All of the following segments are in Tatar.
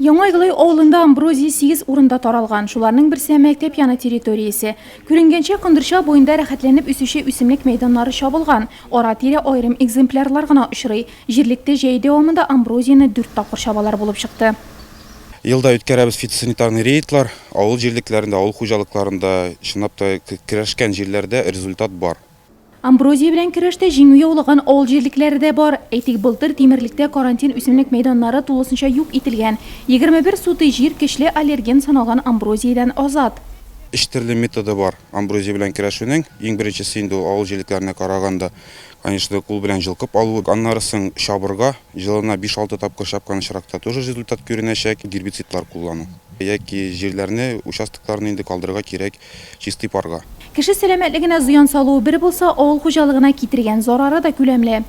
Яңа Иглай авылында амброзия сигез урында таралган. Шуларның берсе, мәктәп яны территориясе. Күренгәнчә, Кондырча буенда рәхәтләнеп үсүче үсемлек мәйданнары чабылган. Ара-тирә аерым экземплярлар гына очрый. Җирлектә җәе дәвамында амброзияне дүрт тапкыр чабалар булып чыкты. Елда үткәрәбез фитосанитарный рейдлар, авыл җирлекләрендә, авыл хуҗалыкларында, чынлап та, керәшкән җирләрдә результат бар. Амброзия белән көрәштә җиңү яулаган авыл җирлекләре дә бар. Әйтик, былтыр Тимерлектә карантин үсемлек мәйданнары тулысынча юк ителгән. 21 сутый җир көчле аллерген саналган амброзиядән азат. Өч төрле методы бар амброзия белән көрәшүнең. Иң беренчесе инде ул авыл җирлекләренә караганда, конечно, кул белән җылкып алу. Аннары соң чабырга, елына биш-алты тапкыр чапкан очракта тоже результат күренәчәк. Гербицидлар куллану яки җирләрне, участокларны инде калдырырга кирәк. Чистый парга. Кеше сәламәтлегенә зыян салуы бер булса, авыл хуҗалыгына китергән зарары да күләмле.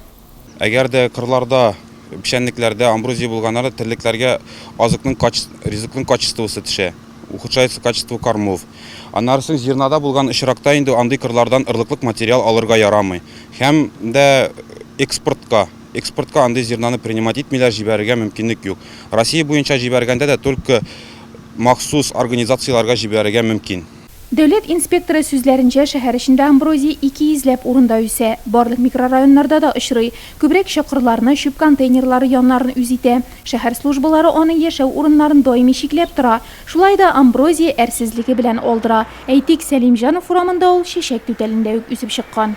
Әгәр дә кырларда, печәнлекләрдә амброзия булганнарда терлекләргә азыкның качес, ризыкның качествосы төшә, ухудшается качество кормов. Аннары соң зернада булган очракта инде андый кырлардан ырлыклык материал алырга ярамый һәм дә экспортка, экспортка андый зернаны принимать итмиләр, җибәрергә мөмкинлек юк. Россия буенча җибәргәндә дә только махсус организацияләргә җибәрергә мөмкин. Дәүләт инспекторы сүзләренчә, шәһәр эчендә амброзия ике йөзләп урында үсә. Барлык микрорайоннарда да очрый. Күбрәк чокырларны, чүп контейнерлары яннарын үз итә. Шәһәр службалары аның яшәү урыннарын даими чикләп тора. Шулай да амброзия әрсезлеге белән алдыра. Әйтик, Сәлимҗанов урамында ул чәчәк түтәлендә үк үсеп чыккан.